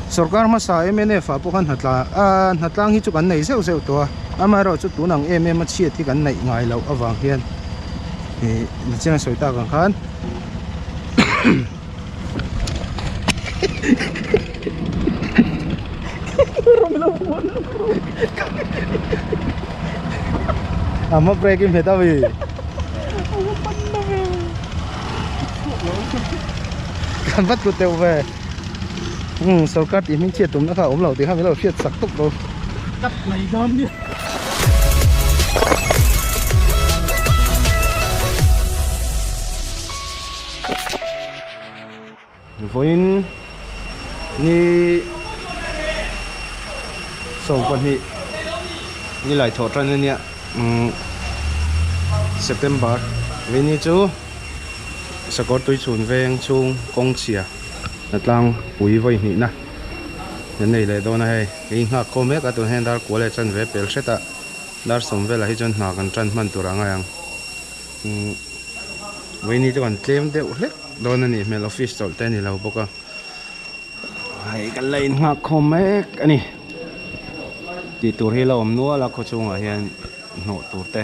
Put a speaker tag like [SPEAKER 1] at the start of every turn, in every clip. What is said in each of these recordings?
[SPEAKER 1] Sorkar hmasa MNF ah pawh khan hnatlang hi chu kan nei zeuh zeuh tawh a, amaherawh chu tun ang em em a chhiat hi kan neih ngai loh avang hian ni chiang a sawi tak ang khan um sorkar tih hming chhiat tumna kha a awm lo tih kha min lo hriat sak tawk lo tap mai dawn nia vawiin ni sawm pahnih ni laithawh tan ania umm September vawiin ni chu-- sakawr tui chhun veng chhung kawng chhia tlang pui vawi hnih na kan nei leh dawn a hei kei nghak khawm mek a tun hen dar kual leh chan ve pel hret a dar sawm vel ah hi chuan hna kan tan hman tur ang ang umm vaini chu kan tlem deuh hlek dawn a nih hmel office chawlh te a ni lo bawk a hei kan la in nghak khawm mek a ni tih tur hi a la awm nual a khaw chhung ah hian hnawh tur te.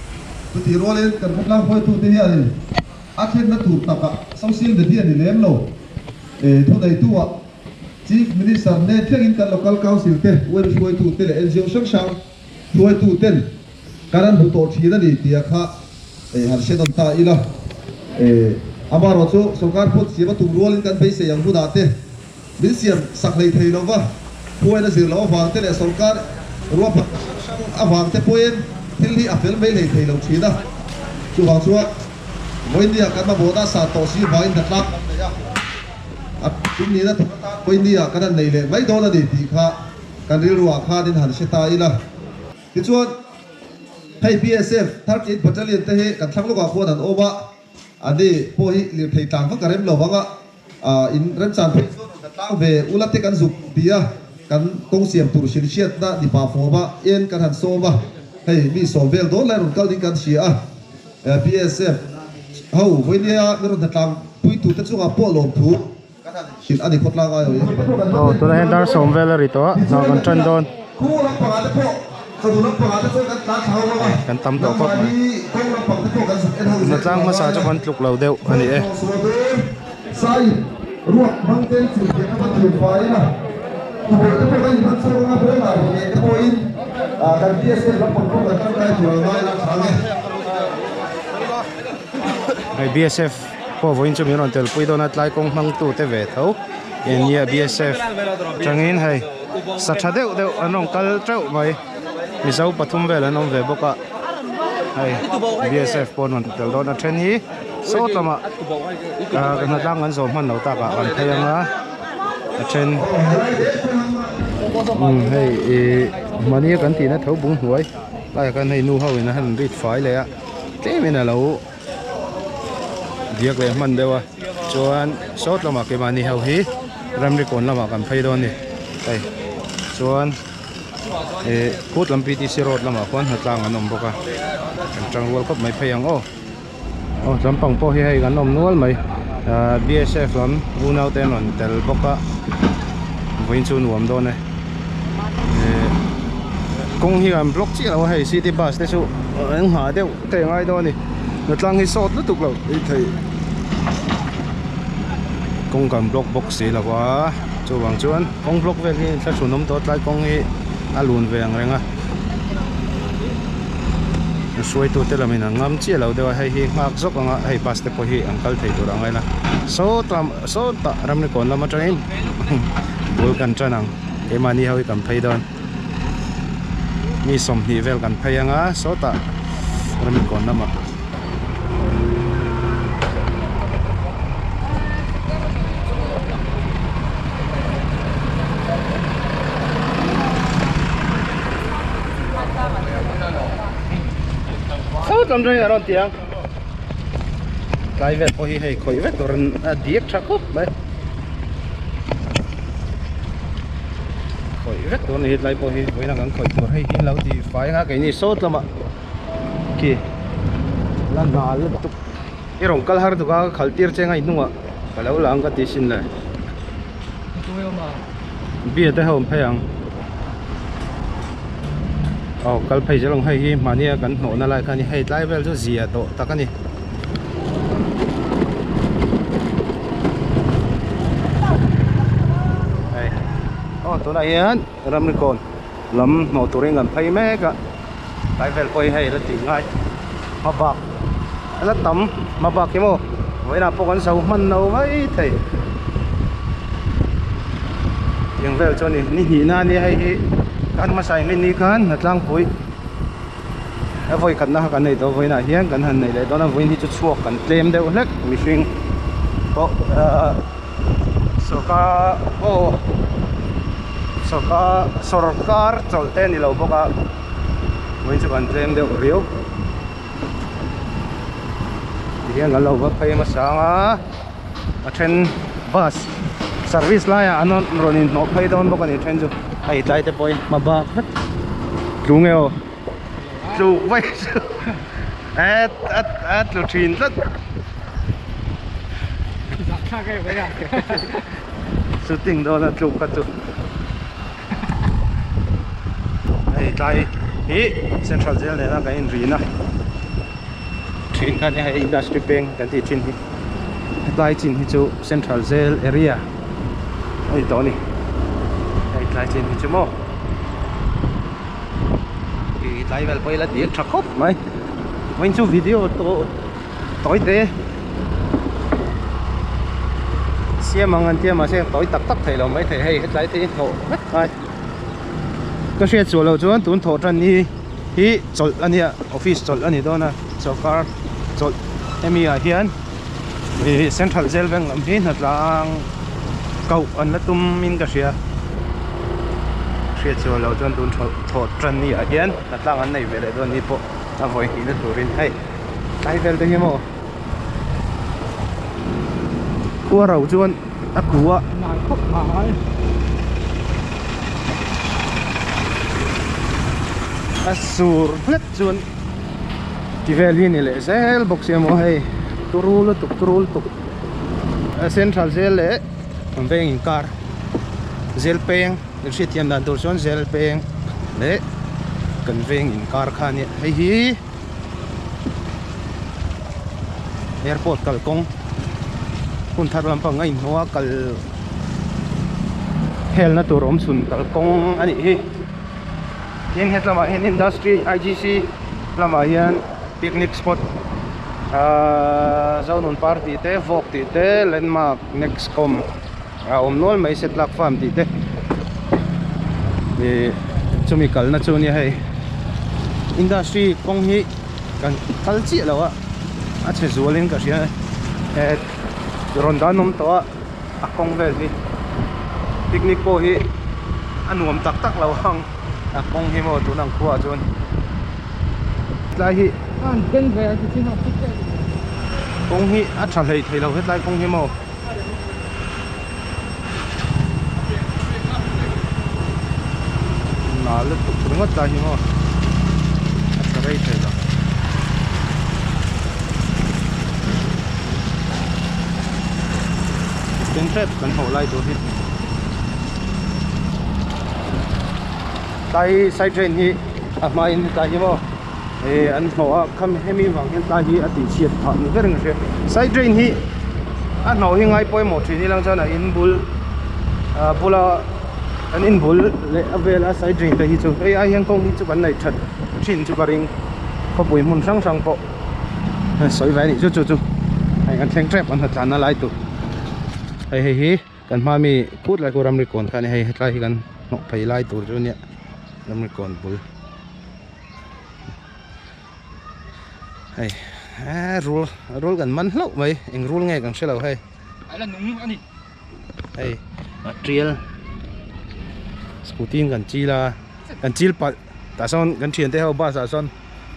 [SPEAKER 2] Chutih rualin kan khawtlang hruaitute hianin a thlenna tur taka social media ni lem lo ee thuneitu-a Chief Minister nen thlengin kan Local Council te, UN hruaitu te leh NGO hrang hrang hruaitu ten kan han hmu tawh thin a ni tia kha ee han hre dawn ta ila ee amaherawhchu sawrkar phawt siam a tum rualin kan beisei ang hunah te. Min siam sak hlei thei lo va, Khuaina zir lo avangte leh sawrkar ruahpan hrang hrang avangte pawhin thil hi a fel mai hlei thei lo thin a. Chuvang chuan Vawinia kan mamawhna sa tawh si avangin ka tlak kan neih a. A tumnihna thut atan Vawinia ka nan nei leh mai dawn a ni tih kha kan rilruah khanin han hre ta ila. Tichuan, hei BSF thirty eight Battalion te hi kan thlang lawkah khuan an awm a. A ni, pawh hi lirthei tlang vak ka rem lo vang a, in remchan phei chuan rawn ka tlang ve. U Late kan zuk ti a, kan kawng siam tur hrin hriatna nipa fawma en kan han sawm a, hei mi sawm vel dawn lai rawn kal ding kan hria a. BSF ho, Vawinia mirawn hna tlang puitute chungah pawh lawmthu. Aw tunah hian
[SPEAKER 1] dar sawm vel a ri tawh a, hna kan ṭan dawn.
[SPEAKER 2] Kan tam tawh khawp
[SPEAKER 1] mai.
[SPEAKER 2] Hna tlang hmasa chu kan
[SPEAKER 1] tluk lo deuh a ni e.
[SPEAKER 2] Hei
[SPEAKER 1] BSF. Khuavu in chu min rawn tel pui dawn a, tlai kawng hmang tu te ve tho eng nge BSF atangin hei sa tha deuh deuh an rawn kal teuh mai, Mizo pathum vel an awm ve bawk a, hei BSF pawh an rawn tel dawn a, a then hi sawt lamah ka hna tlang an zawm hman lo tak ah kan phei ang a, a then umm hei ih mahni a kan tihna tho bunghnuai, tlai ah khan hei nu ho in a han rit fai leh a, tlem in a lo. Diak leh hman deuha chuan sawt lamah keimahni ho hi ramrikawn lamah kan phei dawn a ni. Hei chuan ihh khutlam PTC road lamah khuan hna tlang an awm bawk a, kan tang rual khawp mai phei ang aw. Aw tlâng pang pawh hi hei kan awm nual mai. Ahh BSF lam unaute an rawn tel bawk a, vawiin chu nuam dawn e. Ihh kawng hi kan block chiah lo a, hei city bus te chu eng nghah deuh. Thei ngai dawn a ni. Natlang hi sawt lutuk lo i thei. Kawngkan block bawk si lo va, chuvang chuan kawng block vel hi thla hrunawm tawh a, tlai kawng hi a lun ve ang reng a. A hruaitute lam in an ngam chiah lo deuh a, hei hi nghak zawk ang a, hei bus te pawh hi an kal thei tur ang a ila. Sawt lam, sawtah Ramlekawn lam atangin bul kan tan ang, keimahni ho hi kan phei dawn. mi sawmhnih vel kan phei anga sawtah ramkawn lamah sawtah an rawn en ang. tlai vel pawh hi hei khawih vek turin a dik tha khawp mai khawih vek tur a ni hi tlai pawh hi buai lam kan khawih tur hei hi an lo tih fai anga keini sawt lama khi la na lutuk i rawn kal har duka ka khalh tir cheng a i hnungah ka lo lang ka tihsin le. beer te hi a awm phei ang aw kal phei zel ang hei hi mahni a kan hnawh na lai kha a ni hei tlai vel chu zia tawh tak a ni aw tunah hian ramri kawn. lam hmuh turin kan phei mek a kai vel pawhin hei ila tih ngai hma bak ila tam hma bak hi maw vawiinah pawh kan zo hman no hai thei tiang vel chu a ni ni hnih na a nia hei hi kan hmasa in hming ni khan hna tlangpui a vawi khat na kha kan nei tawh a vawiinah hian kan han nei leh dawn a vawiin hi chu chhuak kan tlem deuh hlek mihring pawh ahh sawrkar aw sawrkar sawrkar chawlhte a ni lo bawk a mawin chu kan tlem deuh riau ti hian kan lo va phei hmasa ang a a then bus service laiah an rawn inhmawh phei dawn bawk a ni a then chu a itlai te pawhin hma bak vek tlu nge aw. tluk vai chu a tlu thin tlat shooting dawn a tluk kha chu hei tlai hi central jail nena kan inrin a thin kha nia hei industry bank kan tih thin hi. hetlai chin hi chu central jail area a ni tawh a ni hei tlai chin hi chu maw ih tlai vel pawh ila tir tha khawp mai vawiin chu video tawh tawi te siam ang an tia mahse tawi tak tak theih lo mai thei hei hetlai te hi hnawh vek ngai ka hriat suah lo chuan tun thawh tan hi-- hi chawlh a nia office chawlh a ni dawn a sorkar chawlh hemi ah hian ihh central zêl veng lam hi hnatlang koh an la tum in ka hria hriatchhuah loh chuan tun thawh thawh ṭan ni ah hian hnatlang an nei ve leh dawn ni pawh a vawi tih na turin hei tlai vêlte hi maw khuarau chuan-- a tua nai khawp mai a sur hlet chuan ti vel hi ni leh zel bawk si a maw hei turu lutuk turu lutuk a central zel leh a veng in kar zel peng kan hriat thiam dan tur chuan zel peng leh kan veng in kar khan nia hei hi-- airport kal kawng hun thar lam pang a in hawng a kal hel na tur awm chhun kal kawng a nih hi tin hetlâm ah hian industry igc lam ah hian picnic spot aaa zâwlnun par tih te vawk tih te landmark nexcom -- a awm nual mai setlak farm tih te ih chumi kalna chu nia hei industry kawng hi kan kal chiah lo a a chhe zual in ka hria eh rawn dan awm tawh a a kawng vel hi picnic pawh hi a nuam tak tak lo ang a kawng hi maw tun ang khuaa chuan tlai hi
[SPEAKER 3] kawng
[SPEAKER 1] hi a tha hleih theih lo hetlai kawng hi maw. nâ lutuk ringawt lai hi maw a sa rei thei lo. Tin hrep kan hawh lai tur hi tlai side drain hi a hmain tlai hi maw. he an hnawh a kham hemi vang hian tlai hi a tih chhiat phah ni ber a ni hre side drain hi a hnawh hi ngai pawimawh thin hi lang chuan a in bul a bula an in bul leh a vel a side drain te hi chu hei ai hian kawng hi chu kan nei that thin chu ka ring khawpui hmun hrang hrang pawh a sawi ve a nih chu chu chu hei an thleng tep an hnathlan a lai tur hei hei hi. Kan hma mi kut lai ku ramrikkawn kha a ni hei hetlai hi kan hnawh phei lai tur chu a nia ramrikkawn bul hei eee rul rul kan man hlauh mai eng rul nge kan hre lo hei aila
[SPEAKER 3] nung
[SPEAKER 1] a ni hei tial scooty in kan chil a kan chil palh Tah sawn kan thiante ho bus ah sawn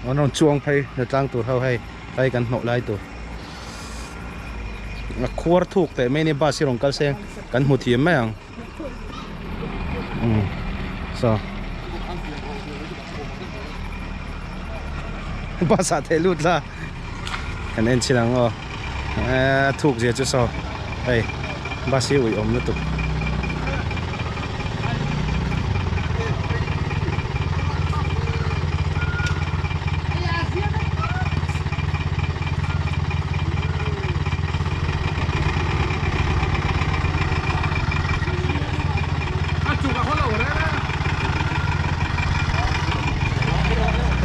[SPEAKER 1] an rawn chuang phei hna tlang tur ho hei hei kan hnawh lai tur a khuar thuk teh mai nia bus hi rawn kal se kan hmu thiam mai ang saw bus ah theh lut la. Kan en chin ang aw. Aa thuk zia chu saw hei bus hi ui awm lutuk.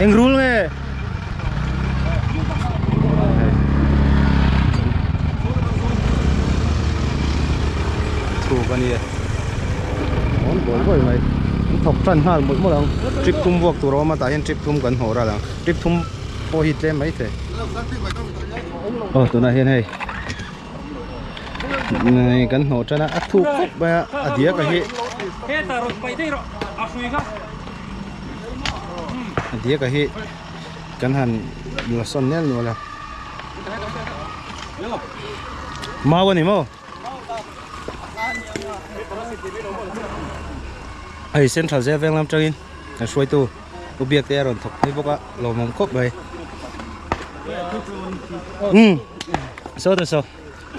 [SPEAKER 1] Eng rul nge. chhuk a nia rawn bawi bawi mai an thawk tan nghal mawlh mawlh ang trip thum vuak tur a awm a tah hian trip thum kan hmu ral ang trip thum pawh hi tlem mai thei aw tunah hian hei nai kan hnaw tan a a thuk khawp mai a a diak a hi. a diak ah hi kan han la sawn nel nual a mau a ni maw hei central zia veng lam tangin kan hruaitu u biak te a rawn thawk phei bawk a lawmawm khawp mai umm saw ta saw.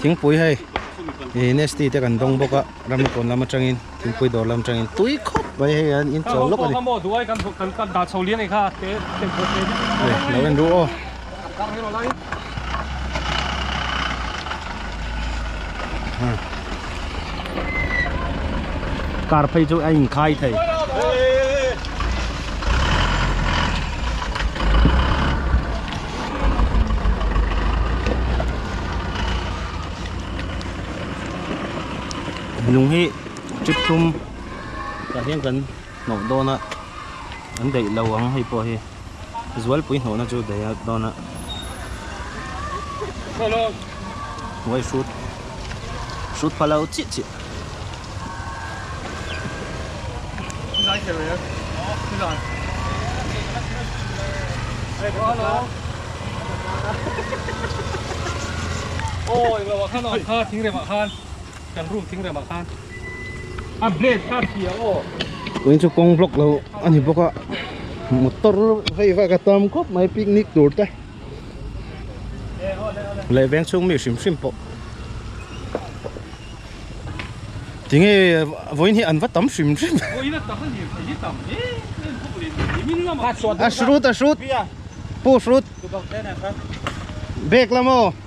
[SPEAKER 1] thingpui hei ih nasty te kan dawng bawk a ram ni pawn lam atangin thingpui dawr lam atangin tui khawp mai hei an in chawh lawk a ni lo en ru aw car phei chu a in khai thei lung hi chi thum tah hian kan hnawh dawn a an daih lo ang hei pawh hi zualpui hnawhna chu daih a dawn a uai hrut hrut pha lo chiah chiah.
[SPEAKER 3] chu kawng
[SPEAKER 1] vlog lo a ni bawk a motor vei vaka tam khawp mai picnic tur te. leh veng chhung mi hrim hrim pawh tinge vawiin hi an va tam hrim hrim a hrut a hrut pu hrut bag lamaw.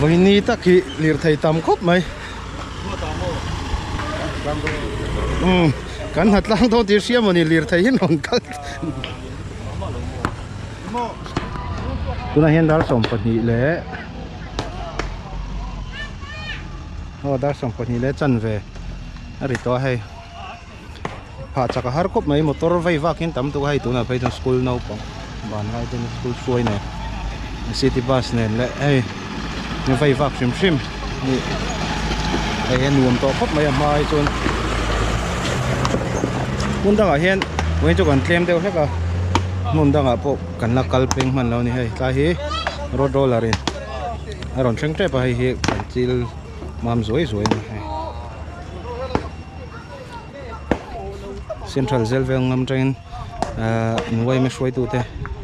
[SPEAKER 1] vaini tak hi lirthei tam khawp mai umm kan hnatlang dawn tih hriam a ni lirthei hi an rawn kal-- tunah hian dar sawm pahnih leh aw dar sawm pahnih leh chanve a ri tawh a hei phah chaka har khawp mai motor vei vakin tam tuk a hei tunah phei chuan school naupang banlaite school hruai nen city bus nen leh hei-- Ni vei vak hrim hrim a ni. Hei hian nuam tawh khawp mai a hmai chuan hmun dangah hian eng chu kan tlem deuh hlek a hmun dangah pawh kan la kal peng hman lo ni hei tlai hi road roller in a rawn thleng tep a hei hi kan chil mam zuai zuai a ni hei central zêl vêl ngam ṭangin umm uaime hruaitu te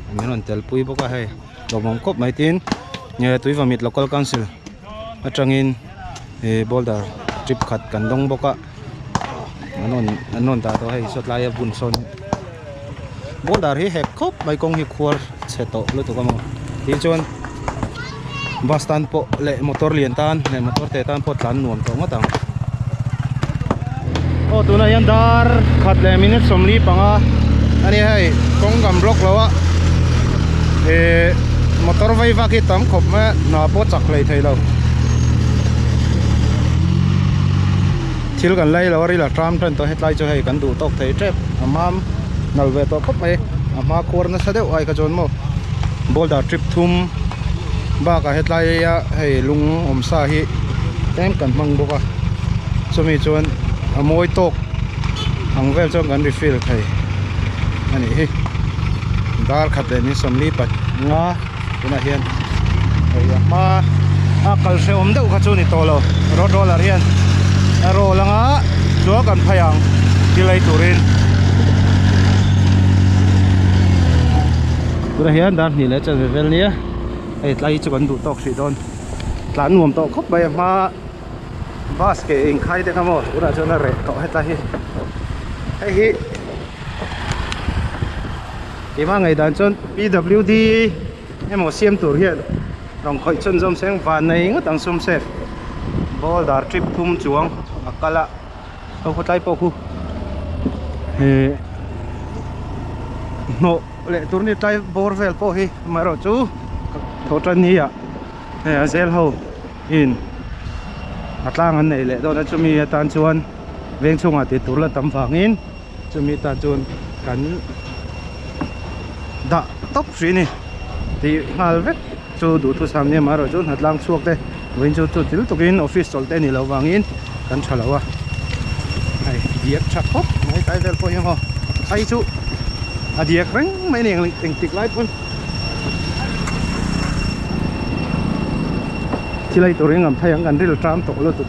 [SPEAKER 1] an rawn tel pui bawk a hei. hlawhmawm khawp mai tin ehh tuiva mit local council atangin ehh boulder trip khat kan dawng bawk a an rawn an rawn dah tawh a hei saw tlai a bun sawn boulder hi hek khawp mai kawng hi khuar chhe tawh lutuk a maw tih chuan bus tan pawh leh motor lian tan leh motor teh tan pawh tlan nuam tawh ngawt ang. Aw tunah hian dar khat leh minute sawmli panga a nia hei kawng gam block lo a eh motor vai vak hi tam khawp mai a hna pawh a chak hlei thei lo thil kan lei lo a ril a ṭam ṭan tawh a hetlai chu hei kan duh tawk thei ṭep a mam nal ve tawh khawp mai a hma khuar nasa deuh ai kha chuan maw boulder ṭip thum bakah hetlai a hei lung awm sa hi. tlem kan hmang bawk a chumi chuan a mawi tawk ang vel chuan kan refill thei a nih hi dar khat leh min sawmli pat nga tunah hian hei a hma a kal hrehawm deuh kha chu a ni tawh lo road roller hian a roll anga sual kan phai ang tilai turin tunah hian darhnih leh a chanve vel nia hei tlai hi chu kan duh tawk hrih dawn. tlan nuam tawh khawp mai a hma a bus ke in khai deuh a maw tunah chuan a reh tawh heta hi hei hi keimah ngaih dan chuan pwd emaw siam tur hian rawn khawih chhunzawm seng vannei ngawt ang sum set boulder tip thum chuang a kal a. Ho khatlai pawh khu he hnawh leh tur ni tlai bawr vel pawh hi mah erawh chu thaw tan ni ah he a zêl ho in a tlang an nei leh dawn a chumi atan chuan vêng chhungah tih tur la tam vangin. Chumi ta chuan kan dah tawp hrih a ni tih nghal vek chu duhthusam sam nia mah erawh chu hna tlang chhuak te vawiin chu chutil tukin office chawl te a nih loh vangin kan tha lo a hei diak tha khawp mai tai vel pawh hi maw phai chu a diak reng mai a ni ang eng tik lai pawn chilai tur engam phai ang kan rilṭam tawh lutuk.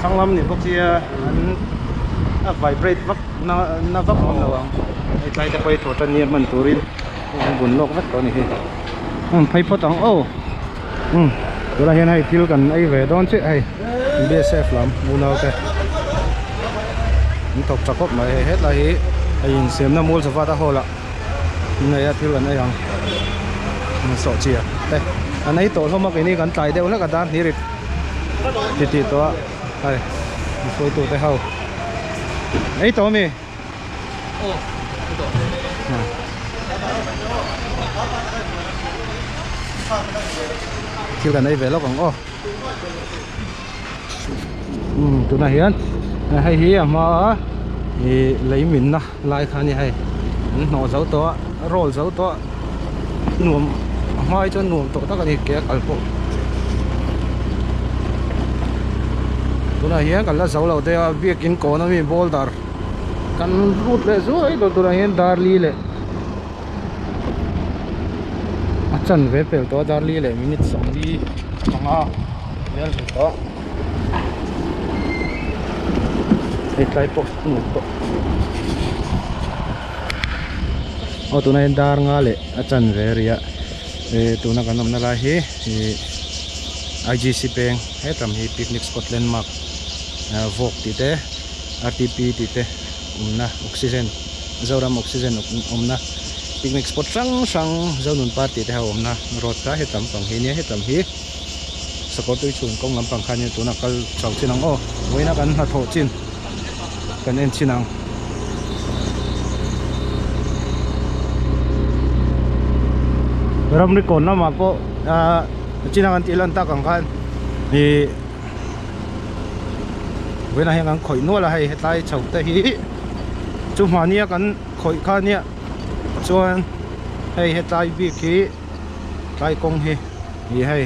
[SPEAKER 3] Thanglam ni
[SPEAKER 1] bawk hi a an a vibrate vak na na vak ngam lo ang. Hetlai te pawh hi thawhṭan nia hman turin a rawn bun lawk vek tawh a ni hi. Umm phei phawt ang aw. Umm tunah hian hei thil kan ei ve dawn chiah hei BSF lam unau te an thawk ṭha khawp mai hei. Hetlai hi hei insiamna Mulzavata Hall ah an nei a thil an ei ang. An sawhchhiah te an ei tawh hlawm a kei ni kan tlai deuh hlek a Darhni rit. Ti tih tawh a ai misawi tu te ho ei tawh ami oh ei tawh thil kan ei ve lawk ang aw umm tunah hian hei hi a hma a ihh lei min na. Lai kha nia hei an hnawh zo tawh a a roll zo tawh a nuam a hma hi chuan nuam tawh tak a ni ke a kal pawh tunah hian kan la zo lo daih a biakin kawn ami boulder kan rut leh zuai lo tunah hian darli leh a chan ve pel tawh a darli leh minute sawmli panga a bial ve tawh. hei tlai pawh a nuam tawh aw tuna hi dar nga leh a chanve a ri a eh tuna kan awmna lai hi ih igc peng hetam hi picnic spot landmark ah vawk tih te rtp tih te awmna oxygen zoram oxygen awmna picnic spot hrang hrang zonun par tih te ho awmna road tlai hetam pang hi nia hetam hi-- Sakawrtui chhun kawng lampang khan hian tuna kal chho chin ang aw, vawiina kan hna thawh chin, kan en chin ang. Ramrikawn lamah pawh a chin a kan tih lan tak ang khan i vawiinah hian kan khawih nual a, hei hetlai chho te hi chu hmahnia kan khawih khan hian chuan hei hetlai bik hi. tlai kawng hi ih hei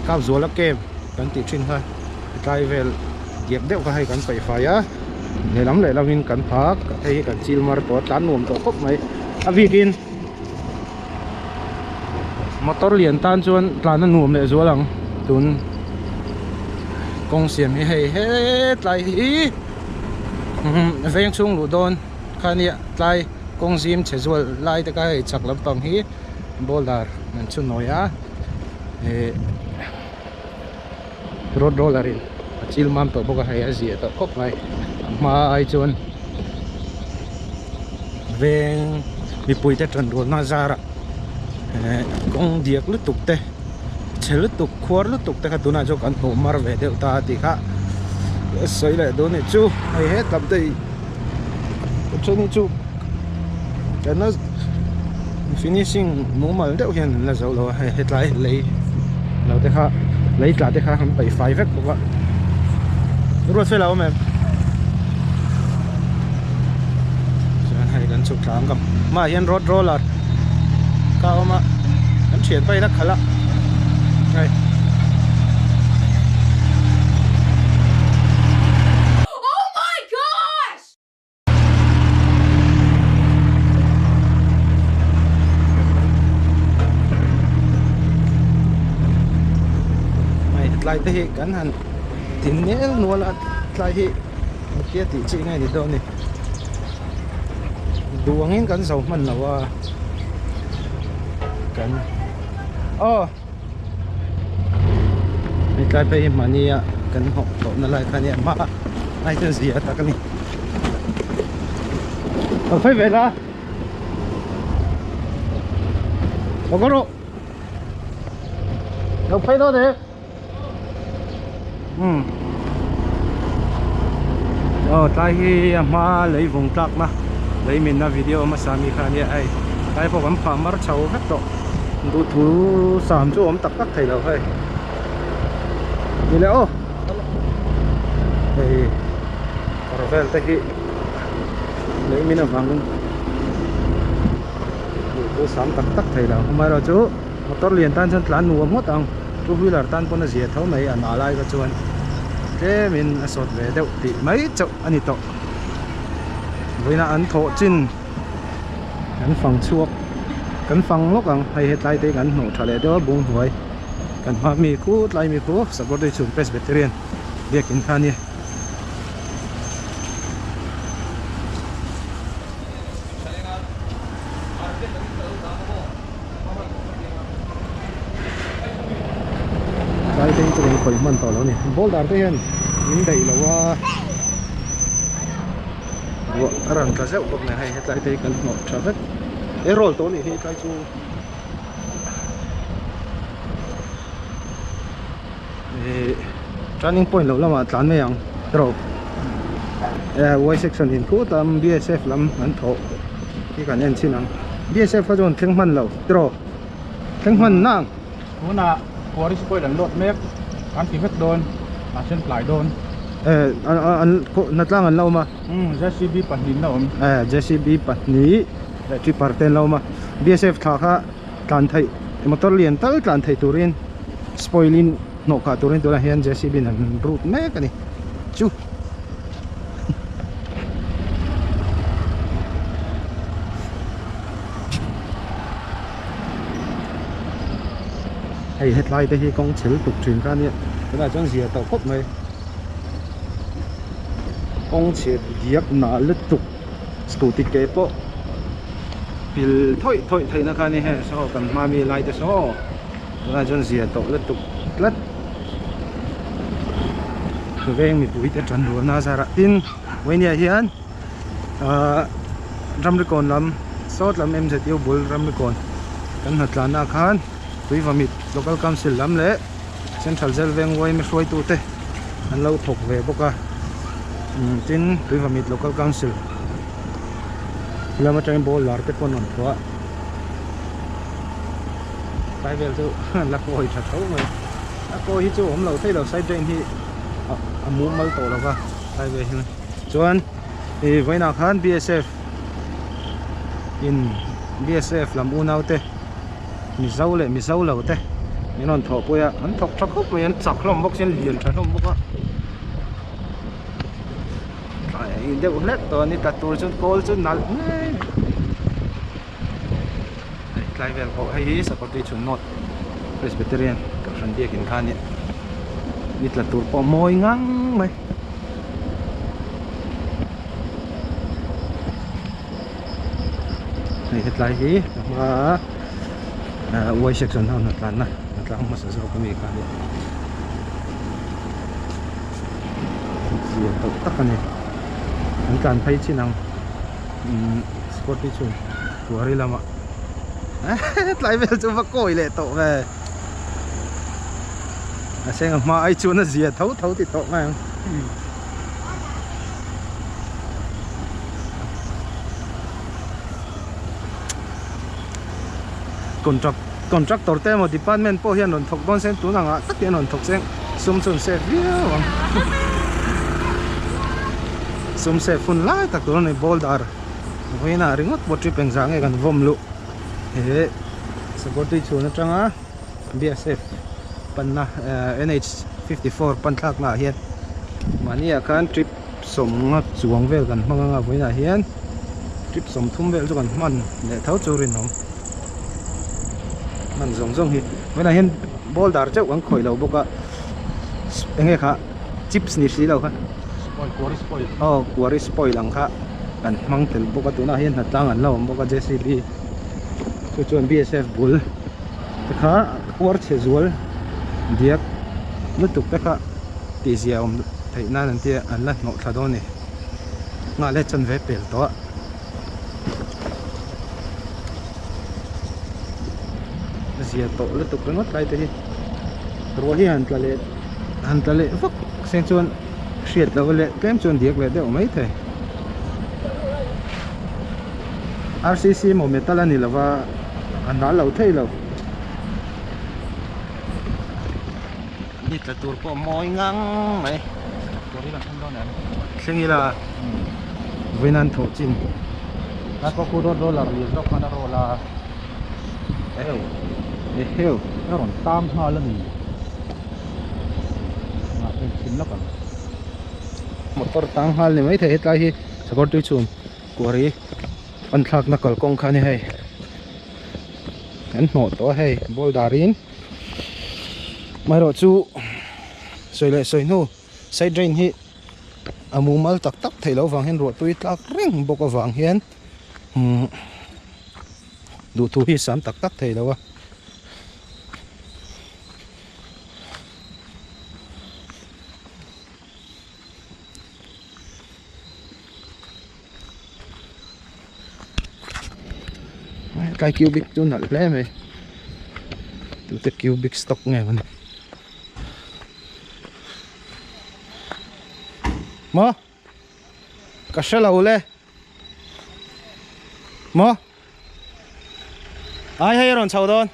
[SPEAKER 1] tlak zuala kem kan tih thin kha tlai vel giap deuh kha hei kan paih fai a lehlam lehlam in kan phak hei hi kan chil mar tawh a tlan nuam tawh khawp mai a bikin motor lian tan chuan tlan a nuam leh zual ang tun kawng siam hi hei hetlai hi veng chhung luh dawn. Kha nia tlai kawng zim che zual lai taka hei chak lampang hi ball dar an chhu nawi a eh road roller in a chil mam tawh bawk a hei a zia tawh khawp mai a hma ai chuan veng mipui te tan rual na zara eh kawng diak lutuk te che lutuk khuar lutuk te kha tunah chuan kan hmuh mar ve deuh ta ti kha sawi leh dawn nih chu hei he tlap daih-- Option hi chu kan la finishing mumal deuh hian an la zo lo a hei hetlai lei lo te kha lei tla te kha han paih fai vek bawk a ruat fel a awm em chuan hei kan chhuk thla ang kam mah hian road roller ka awm a kan thian phai na khalh a hei Oh my gosh! Mai tlai te hi kan han tin nel nual a tlai hi kia ti chi ngai ni dawn ni duangin kan zo hman lo a kan oh Hetlai phei hi mahnia kan hnawh hlawhna lai kha nia hma ai chuan zia tak a ni a phei ve la a go rawh lo phei lo de umm aw tlai hi a hma lei vung tlakna lei minna video a hmasa mi kha ania hei tlai pawh kan phah mar chho vek tawh duh thu sam chu a awm tak tak thei lo hei ni le aw hei kawr vel te hi lei min avang duh thu sam tak tak thei lo amaherawhchu-- Motor lian tan chuan tlan nuam ngawt ang, two wheeler tan pawh na zia tho mai a na lai kha chuan tlem in a sawt ve deuh tih mai chauh a ni tawh, vawiin a an thawh chin kan fang chhuak kan fang lawk ang hei hetlai te hi kan hnawh tha leh deuh a bung hnuai kan hma mi khu tlai mi khu Saburdae chhun Presbyterian biakin kha a ni. Tlai pawhin chu kan hawi hman tawh lo a ni ball dar te hian min daih lo a ruah a rawn tla zeuh bawk a ni hei he tlai te hi kan hmuh tha vek he roll tawh a nih hi tlai chu. Ehh turning point loh lamah tlan mai ang tiraw ehh y section in khut a bsf lam an thawh hi kan en chin ang bsf kha chuan thleng hman lo tiraw thleng hman na ang tunah
[SPEAKER 3] quarry spoil an load mek kan ti vek dawn kan hre tlai dawn ehh
[SPEAKER 1] an hna tlang an la awm a umm jcb pahnih
[SPEAKER 3] an la awm ehh jcb
[SPEAKER 1] pahnih leh tipper te an la awm a bsf thla kha tlan theih motor lian tal tlan theih turin spoil in hnawh kah turin tunah hian jcb in an rut mek a ni chu hei hetlai te hi kawng chhel tuk thin kha nia tunah chuan zia tawh khawp mai kawng chhiat diak na lutuk. scooty ke pawh hmil thawih thawih theihna kha ni heh saw kan hma mi lai te saw tunah chuan zia tawh lutuk tlat veng mipui te tan rual na zarah tin vawinia hian ahh ramrikawn lam sawt lam mzu bul ramrikawn kan hnathlanah khan tuivamit local council lam leh-- Central Jail veng uai mihruaitu te an lo thawk ve bawk a tin Tuivamit Local Council lam atang in ball lar te pawh an rawn thuah a tlai vel chu la kawi tha tho mai a kawi hi chu a awm lo thei lo side drain hi a mumal tawh lo va tlai ve hi chuan hei vawiinah khan BSF in BSF lam unaute. Mizo leh Mizo lo te min rawn thawh pawih a an thawk tha khawp mai an chak hlawm bawk si an lian tha hlawm bawk a tlai a in deuh hlet tawh a ni tla tur chu kawl chu nalh ngei hei tlai vel pawh hei hi sakawrte thutna presbyterian kan hran biak in kha a ni ni tla tur pawh mawi ngang mai. hei hetlai hi ka hma a uai section ho hnathlanna hnathlang hmasa zawk a mi kha ni zir tawh tak a ni an tlan phai chin ang umm spot hi chu kuari lamah hetlai vel chu va kawi leh tawh ve a hma hi chuan a zia tho tho tawh mai ang. contract contractor te emaw department pawh hian rawn thawk dawn se tun ang ah tak hian rawn thawk se ang sum chu an save viau ang sum save hun lai tak tur a ni ball dar vawiin a ringawt pawh tih peng zah ngei kan vawm luh he sakawr tui chhun atanga. BSF panna NH-54 pan thlaknaah hian mahniah khan trip sawmnga chuang vel kan hmang anga vawiinah hian trip sawm thum vel chu kan hman leh tho chu rinawm hman zawng zawng hi vawiinah hian ball dar chauh kan khawih loh bawk a eng nge kha chips ni si lo kha
[SPEAKER 3] aw kuari
[SPEAKER 1] spoil ang kha kan hmang tel bawk a tunah hian hnatlâng an lo awm bawk a J_C_B . chu chuan bsf bul te kha uar chhe zual diak lutuk te kha tih ziah awm theih nan an tia an la hnawh thla dawn a ni nghah leh chan ve pel tawh a ziah tawh lutuk ringawt lai te hi ruah hi han tla leh han tla leh vak se chuan hriat loh leh tlem chuan diak leh deuh mai thei. RCC emaw metal a ni lo va, a nal lo thei lo. Ni tla tur pawh mawi ngang mai. Kawri la thleng
[SPEAKER 3] dawn leh ang. Thleng ila
[SPEAKER 1] vawiin an thawh chin. Nai pawh khu dawn
[SPEAKER 3] dollar lian zawk khan a roll a.
[SPEAKER 1] Eheu eheu. A rawn tam nghal a ni.
[SPEAKER 3] Nghah hlim hlim lak ang.
[SPEAKER 1] Motor tam nghal ni maithei hetlai hi Sakawrtui chhun Quarry an thlakna kalkawng kha a ni hei an hnawh tawh a hei boulder in amaherawhchu sawi leh sawi hnu side drain hi a mumal tak tak theih loh avang hian ruahtui a tlak reng bawk avang hian umm duhthû hi a sâm tak tak thei lo a. cubic chu nalh hle mai tute cubic stock nge mawni maw ka hre lo le. Maw? Ai hei a rawn chho dawn.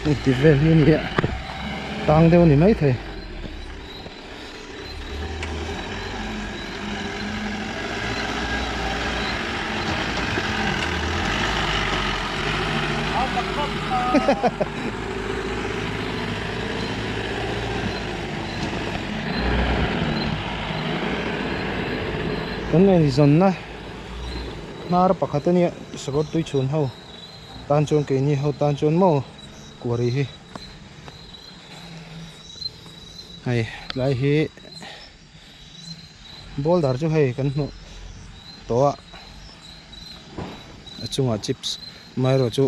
[SPEAKER 1] Hei tih vel hi ni a, tang deuh ni mai thei. Hahaha kan eizawnna hnar pakhat ania sakawr tui chhun ho tan chuan keini ho tan chuan maw kuah ri hi hei tlai hi. Boulder chu hei kan hmuh tawh a, a chungah chips amaherawhchu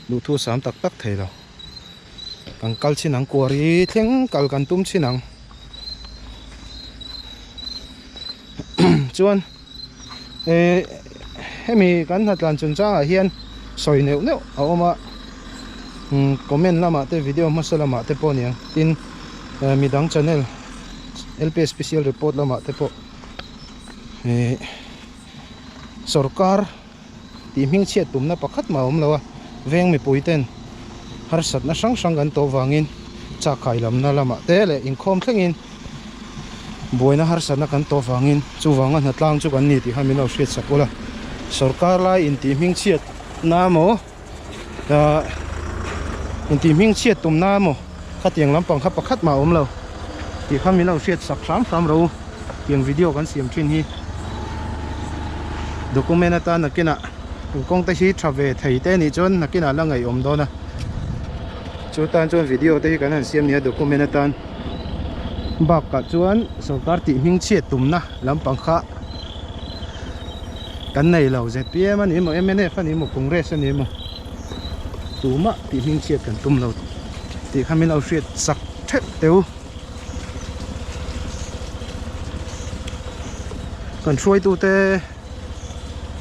[SPEAKER 1] duhthu sam tak tak thei lo. Kan kal chhin ang quarry thleng kal kan tum chin ang chuan-- Hemi kan hnathlan chun changah hian sawi neuh neuh a awm a, comment lamah te video hmasa lamah te pawh aniang tin midang channel LP special report lamah te pawh sorkar. tih hming chhiat pumna pakhat mah a awm lo a, veng mipui ten harsatna hrang hrang kan tawh vangin chak khailamna lamah te leh inkhawm thlengin buaina harsatna kan tawh vangin chuvanga hna tlang chu kan ni tih kha min lo hriatsak ulh a, sorkar lai in tih hming chhiatna maw? ah in tih hming chhiat tum na emaw khatiang lampang kha pakhat mah a awm lo tih kha min lo hriat sak hram hram ro tiang video kan siam thin hi document atan nakin ah in kawng te hi tha ve thei te nih chuan nakin ah la ngaihawm dawn a chu tan chuan video te hi kan han siam nia document atan bak ah chuan sawrkar tih hming chhiat tum na lampang kha kan nei lo zpm a nih maw mnf a nih maw congress a nih maw tumah tih hming chhiat kan tum lo tih kha min lo hriat sak theuh teuh kan hruaitute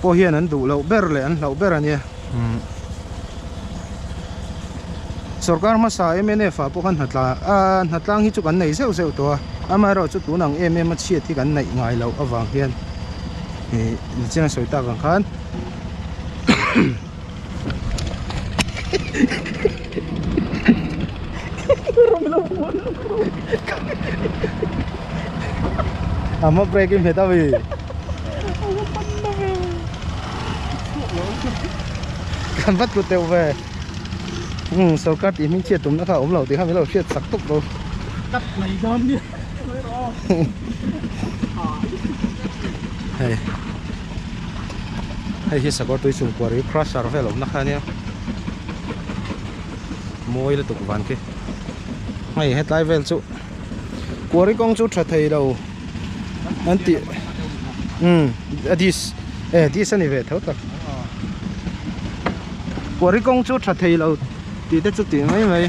[SPEAKER 1] pawh hian an duh loh ber leh an hlauh ber a nia. Sorkar hmasa mnf ah pawh kha hnatlang hi chu kan nei zeuh zeuh tawh a, amaherawhchu chu tun ang em em a chhiat hi kan neih ngai loh avang hian ni chiang a sawi tak ang khan kan va tlu teuh ve umm sorkar tih hming chhiat tumna kha a awm lo tih kha min lo hriat sak tawk lo tap mai
[SPEAKER 3] dawn nia
[SPEAKER 1] hei hei hi sakawr tui chhungkua ri crusher vel awmna kha nia mawi lutuk vanki hei hetlai vel chu quarry kawng chu tha theilo. Anti um adis eh dis ani ve tho tak Puari kawng chu tha thei lo tih te chu tih mai mai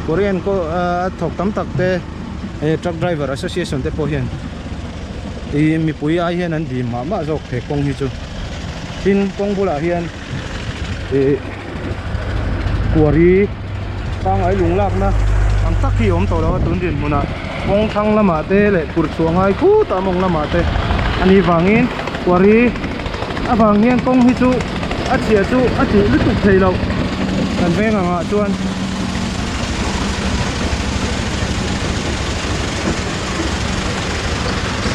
[SPEAKER 1] Puari an ko a thawk tam tak te eh truck driver association te pawh hian i mipui ai hian an dîm mah mah zawk thei kawng hi chu tin kawng bulah hian ihh quarry pangngai lung lakna ang tak hi a awm tawh lo a tun din hmunah kawng thlang lamah te leh phur chhuah ngai khut ah mawng lamah te a nih vangin quarry avang hian kawng hi chu a chhiah chu a tih lutuk thei loh kan veng ang ah chuan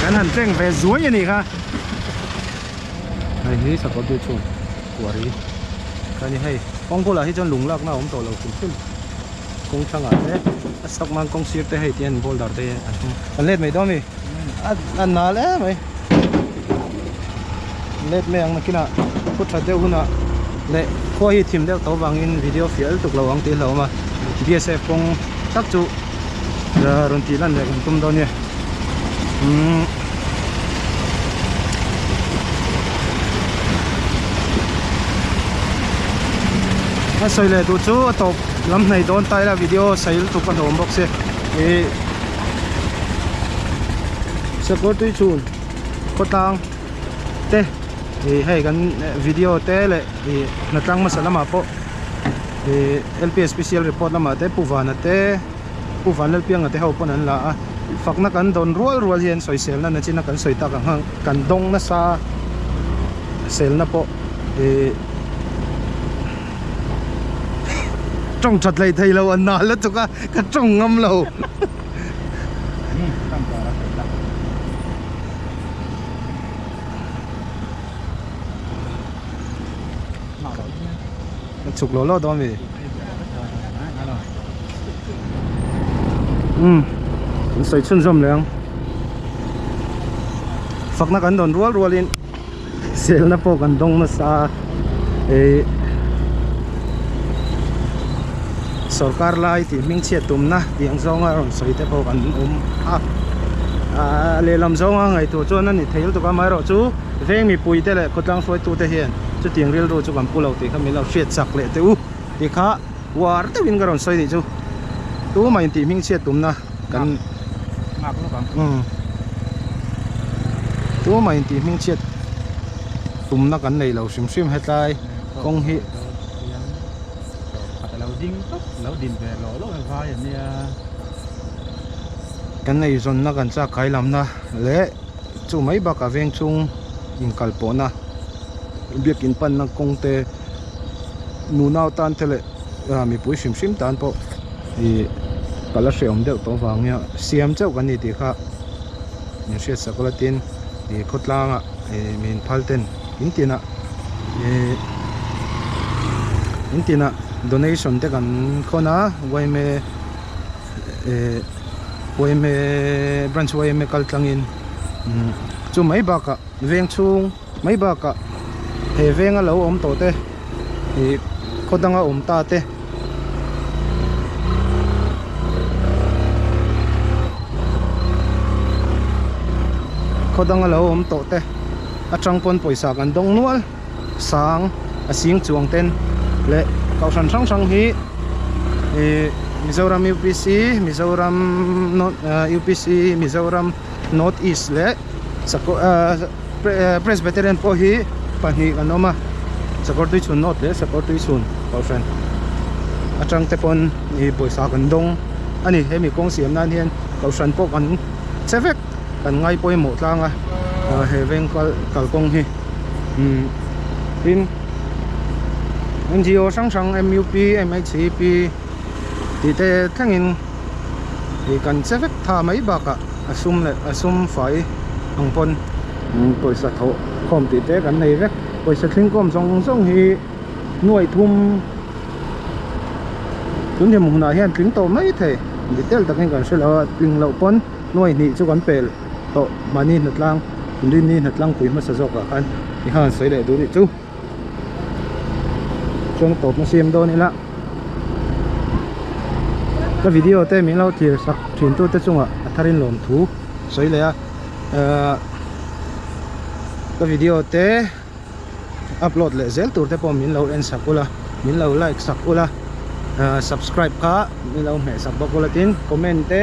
[SPEAKER 1] kan han cheng ve zuai a ni kha. Heini sapa beach chu kuari ka ni hei kawng bulah hi chuan lung lakna a awm tawh lo hrim hrim kawng thlangah te a sak nan kawng sir te hei te hian boulder te hian an hung an let mai dawn a mi a nal em mai let mai ang nakin a khaw tha deuh hunah leh khaw hi thim deuh tho vangin video fiah el tuk lo ang tih a hlauh a awm a bsf kawng tak chu-- rawn tih lan leh kan tum deuh nia umm a sawi leh duh chu a tawp lam hnaih dawn ta ila video sawi lutuk a ni awm bawk se ih sakawr tui chun khawtlang te ih hei kan video te leh ih hnatlang hmasa lamah pawh-- he lps special report lamah te pu vana te pu van lal pianga te ho pawn an la a fakna kan dawn rual rual hian sawiselna nachina kan sawi tak ang hang kan dawng nasa selna pawh ih tawng that leh theilo a na lutuk a ka tawng ngam lo Chuk lo lo dawn ve. Um. Kan sawi chhun zawm leh ang. Fakna kan dawn rual rual in selna pawh kan dawng nasa a. Hei sorkar lai tih hming chhiat tumna tih ang zawnga rawn sawi te pawh kan awm a. Ahh lehlam zawnga ngaihtuah chuan a ni thei lutuk a amaherawhchu. veng mipui te leh khawtlang hruaitu te hian chutiang rilru chu kan pu lo tih kha min lo hriat chak leh teh u tih kha uar deuh in ka rawn sawi nih chu tu mai intih hming chhiat tum na kan nghak lawk ang umm tu mai intih hming chhiat tum na kan nei lo hrim hrim hetlai kawng hi pakhat alo
[SPEAKER 3] ding tawp alo din ve loh loh a vai a nia
[SPEAKER 1] kan eizawn na kan chak kai lam na leh Chu mai bakah veng chung inkalpawhna, biakin panna kawngte, nunau tante leh mipui hrim hrim tan pawh ih ka la hreawm deuh tawh avangin a siam chauh kan ni tih kha min hriatsak ula tin ih khawtlangah ih miin phal ten in tinah ih in tinah donation te kan khawn a yma. eh yma branch yma kal tlangin umm chu mai bakah veng chhung mai bakah he veng a lo awm tawh te ih khaw danga awm ta te khaw danga lo awm tawh te atang pawn pawisa kan dawng nual. Sang, a sing chuang ten leh Kohhran hrang hrang hi ih Mizoram UPC, Mizoram North uh UPC, Mizoram North East leh Sakawr uh Presbyterian pawh hi pahnih an awm a, Sakawr Tui Chhun North leh Sakawr Tui Chhun Kohhran a tang te pawn ih pawisa kan dawng a ni, hemi kawng siam nan hian Kohhran pawh kan che vek. kan ngai pawimawh tlang a he veng kal kalkawng hi tin ngo hrang hrang mut mhcp tih te thlengin ih kan che vek tha mai bakah a sum leh a sum fai ang pawn pawisa tho khawm tih te kan nei vek pawisa tling khawm zawng zawng hi nuaih thum tun hlimna ah hian tling tawh mai thei detail takin kan hre lo a tling loh pawn-- Hnuai hnih chu kan pel tawh mahni hnatlang rinni hnatlang pui hmasa zawkah khan i han sawi leh duh rih chu. Chuan ka tawpna siam dawn ila ka video te min lo thlir sak thin tute chungah a tharin lawm thu sawi leh a ka video te. upload leh zel tur te pawh min lo en sak ula min lo like sak ula ah subscribe kha min lo hmeh sak bawk ula tin comment te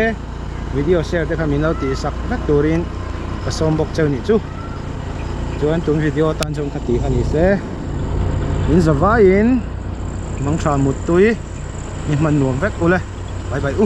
[SPEAKER 1] video share te kha min lo tih sak vek turin ka sawm bawk che a nih chu chuan tun video atan chuan ka tih kha ni se in za vai in mangtha muttui i hman nuam vek ula bye bye u.